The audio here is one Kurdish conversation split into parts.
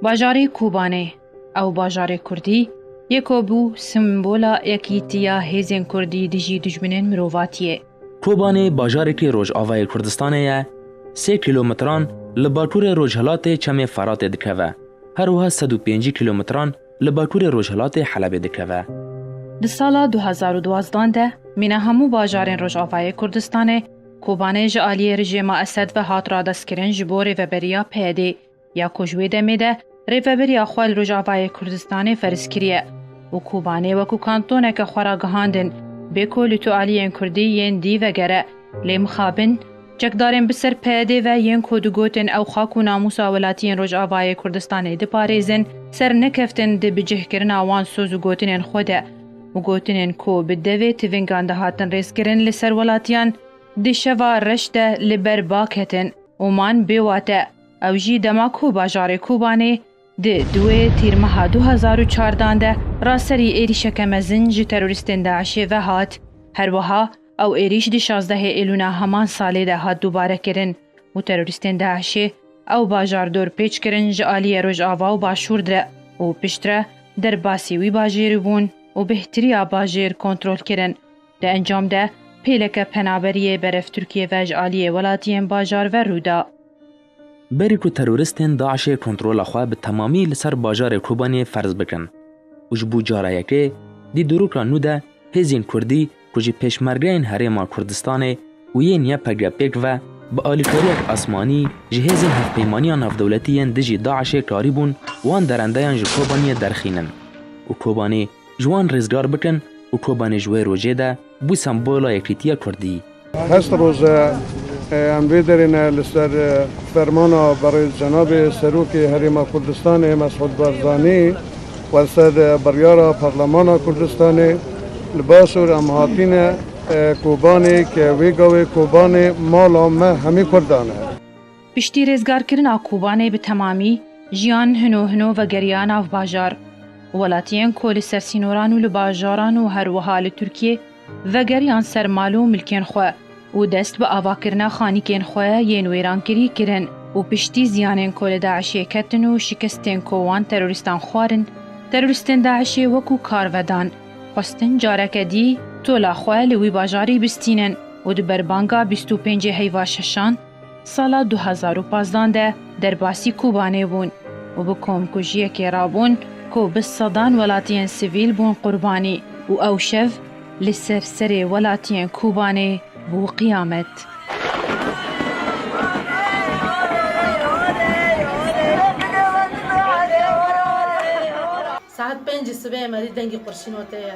Bajarê Kobanê, ew bajarê kurdî ye ku bû simbola yekîtiya hêzên kurdî dijî dijminên mirovatiyê. Kobanê bajarekî rojavayê Kurdistanê ye, sê kîlometran li bakurê rojhilatê Çemê Feratê dikeve, her wiha sed û pêncî kîlometran li bakurê rojhilatê Helebê dikeve. Di sala du hezar û duwazdeh de mîna hemû bajarên rojavayê Kurdistanê, Kobanê ji aliyê rejîma Esed ve hat radestkirin ji bo rêveberiya PYDê ya ku ji wê demê de rêveberiya xwe li Rojavayê Kurdistanê ferz kiriye û Kobanê wekû kantoneke xwe ra gihandin, Bêko li tu aliyên Kurdî yên dî vegere, lê mixabin, çekdarên bi ser PYDê ve yên ku digotin ew xak û namûsa welatiyên Rojavayê Kurdistanê diparêzin, sernekeftin di bicihkirina wan soz û gotinên xwe de. û gotinên ku bi devê tivîngan dihatin rêzkirin li ser welatiyan di şeva reş de li ber ba ketin û man bêwat e. Ew jî dema ku bajarê Kobanê di duê Tîrmeha du hezar û çardan de ra serî êrîşeke mezin ji terorîstên DAIŞ'ê ve hat. Her wiha Ew êrîş di şazdehê Êlûna heman salê de hat dubare kirin û terorîstên DAIŞ'ê ew bajar dor pêç kirin ji aliyê Rojava û Başûr de û piştre derbasî wî bajêrî bûn û bêhtirîya bajêr kontrol kirin. Di encam de pêleke penaberiyê berev Tirkiyê ve ji aliyê welatiyên bajar ve rû da. Berî ku teroristên DAIŞ'ê kontrola xwe bi temamî li ser bajarê Kobaniyê ferz bikin û ji bo cara yekê di dûrûka nû de hêzên kurdî ku ji pêşmergeyên Herêma Kurdistanê û yên YPG pêk ve bi alîkariyek asmanî ji hêzên hevpeymaniya navdewletî yên dijî DAIŞ'ê karîbûn wan derendeyan ji Kobaniyê derxînin û Kobanî Ji wan rêzgar bikin û Kobanê ji wê rojê de bû sembola yekîtiya Kurdî. Hest roz e em vê derê ne li ser fermana berêz cenabê Serokê Herêma Kurdistanê Mesûd Barzanî û li ser biryara Parlemana Kurdistanê li Başûr em hatîne Kobanê ke wê gavê Kobanê mala me hemî Kurdan e. Piştî rêzgarkirina Kobanê bi temamî jiyan hino hino vegeriya nav bajar. Welatiyên ku li ser sînoran û li bajaran û her wiha li Tirkiyê vegeriyan ser mal û milkên xwe û dest bi avakirina xanîkên xwe yên wêrankirî kirin û piştî ziyanên ku li DAIŞ'ê ketin û şikestên ku wan terorîstan xwarin, terorîstên DAIŞ'ê wekû kar vedan, xwestin careke dî tola xwe li wî bajarî bistînin û di ber banga bîst û pêncê heyva şeşan, Sala du hezar û pazdeh de derbasî Kobanê bûn û bi komkujiyekê re bûn ku bi sedan welatiyên sivîl bûn qurbanî û ew şev li ser serê welatiyên Kobanê bû qiyamet. Saet pêncî sibê Emerî dengê qurşîn û tê ye.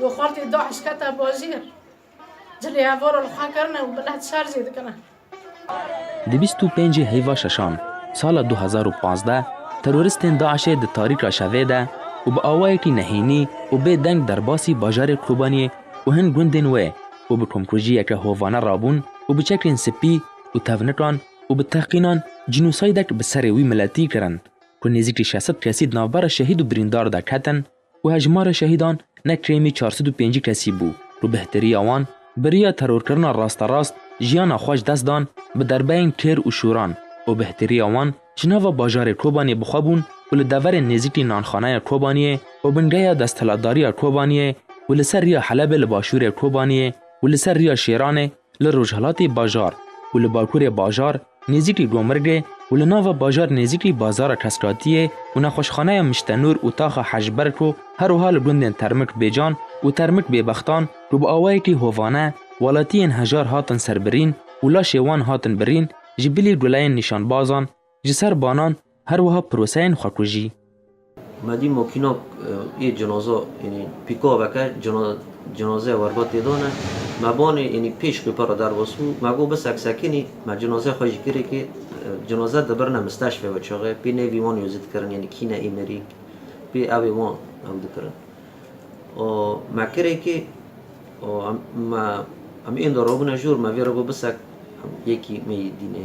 Li xaltê DAIŞ kete bajêr, cilê hevora li xwe kirine û millet şer jê dikine. Di bîst û pêncî heyva şeşan sala du hezar û pazdeh teroristên DAIŞ'ê di tarîka şevê de û bi awayekî nehênî û bê deng derbasî bajarê Kobaniyê û hin gundên wê û bi komkujiyeke hovane rabûn û bi çekên spî û tevnikan û bi tehqînan cînosaydek bi serê wî miletî kirin ku nêzîkî şeş sed kesî di navbera şehîd û birîndar de ketin û hejmara şehîdan ne kêmî çar sed û pêncî kesî bû û bihtirîya wan biriya terorkirina rasterast jiyana xwe ji dest dan bi derbeyên kêr û şûran û bihtirîya wan ji nava bajarê Kobaniyê bi xwe bûn û li deverên nêzîkî Nanxaneya Kobaniyê û bingeya desthilatdariya Kobaniyê û li ser riya Helebê li başûrê Kobaniyê û li ser riya Şêranê Li rojhilatê bajar û li bakurê bajar nêzîk li Gomirgê û li nava bajar nêzîk lî bazara Keskatiyê û nexweşxaneya Miştenûr û taxa Hejberko herwiha li gundên Termik Bêcan û Termik Bêbextan ku bi awayekî hovane welatiyên hejar hatin serbirîn û laşê wan hatin birîn ji bilî gulayên nîşanbazan Ji ser banan her wiha proseyên xwekujî. Me dî makînak yê cinaza yanî pîka veke cinazeya werba tê dane. Me banê yanî pêş qîpe re derbas bû. Me got bisek sekinî me cinazeya xwe ji kirekê cinaze dibirine misteşfê we çaxê pê nêvî wan yozî dikirin yanî kîne Îmerîk pê evê wan ew dikirin. Me kirekê me em ênda rabûne jor me vê re got bisek yekî me yê dînê.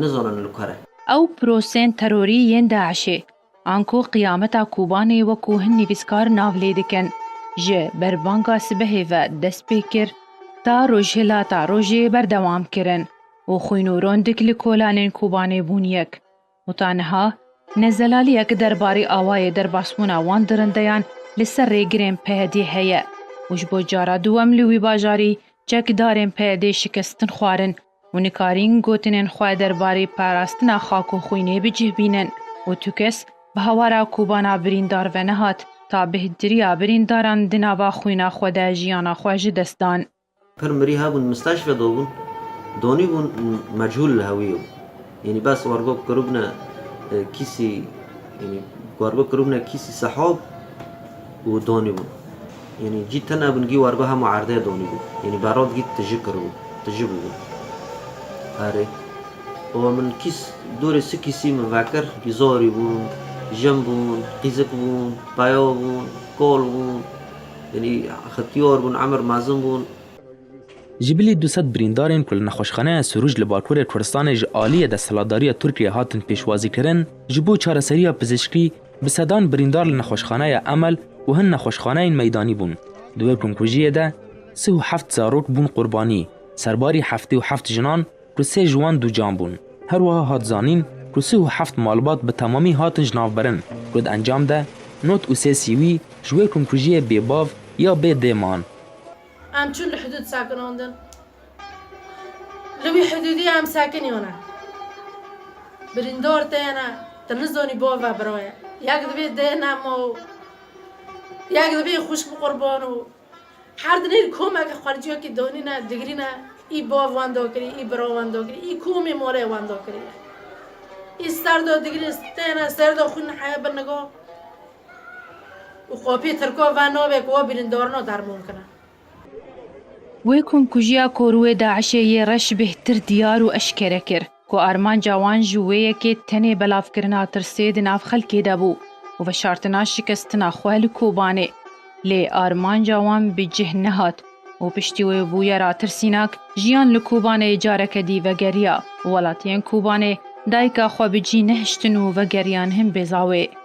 nizanin li ku re. Ew pirosên terorî yên DAIŞ'ê, anku qiyameta Kobanê wekû hin nivîskar nav lê dikin, ji berbanga sibehê ve dest pê kir ta rojhilata rojê berdewam kirin û xwîn û rondik li kolanên Kobanê bûn yek. Weta niha ne zelaliyek derbarê awayê derbasbûna wan dirindeyan li ser rêgirên PYD'ê heye û ji bo cara duwem li wî bajarî çekdarên PYD şikestin xwarin û nikarîn gotinên xwe derbarê parastina xak û xwînê bi cih bînin û tu kes bi hawara kobana birîndar ve nehat ta bêhtirîya birîndaran di nava xwîna xwe de jiyana xwe ji dest dan. Pir mirî hebûn misteşfe dobûn, donî bûn mecûl hewiyo. Yenî bes wergo kiribne kîsî yenî wergo kiribne kîsî sehob û donî bûn. Yenî cî tine bûn gî wergo hema erdê donî bûn. Yenî berod gî tiji kiribûn, tiji bûbûn. Erê. Û min kîs dûrê si kîsî min vekir. Zorî bûn, jin bûn, qîzik bûn, peyo bûn, kol bûn, Yanî Xetiyar bûn, Emir Mezin bûn. Ji bilî du sed birîndarên ku li nexweşxaneya Sûrûj li Bakurê Kurdistanê ji aliyê desthilatdariya Tirkiyeyê hatin pêşwazîkirin, ji bo çareseriya pizîşkî bi sedan birîndar li nexweşxaneya Emel û hin nexweşxaneyên meydanî bûn. Di wê komkujiyê de sih û heft zarok bûn qurbanî, serbarî heftê û heft jinan ku sê ji wan dûcan bûn. Her wiha hat zanîn ku sih û heft malbat bi temamî hatin ji navberin ku di encam de not û sê sîwî ji wê komkujiyê bê bav ya bê dê man. Em çûn li hidûd sekinandin. Li wî hidûdî em sekiniyane. Birîndar têne, tu nizanî bav e bira ye. Yek divê dê nema û yek divê xwişk bi qurban û Her dinêr komeke xwelciyokî donîne digirîne î bav wan do kirî î bira wan do kirî î komê malê wan do kirî ye. Î ser do digirî stêne ser do xwîn heye bi nigo û qopî tirko ve navê ku we birîndarino derman kine. Wê komkujiya ku rûê DAIŞ'ê yê reş bêhtir diyar û eşkere kir. ku armanca wan ji wê yekê tenê belavkirina tirsê di nav xelkê de bû û veşartina şikestina xwe li Kobanê. Lê armanca wan bi cih nehat û piştî wê bûyera tirsînak, jiyan li Kobanê careke dî vegeriya. Welatiyên Kobanê dayika xwe bi cî nehiştin û vegeriyan hin Bêzawê.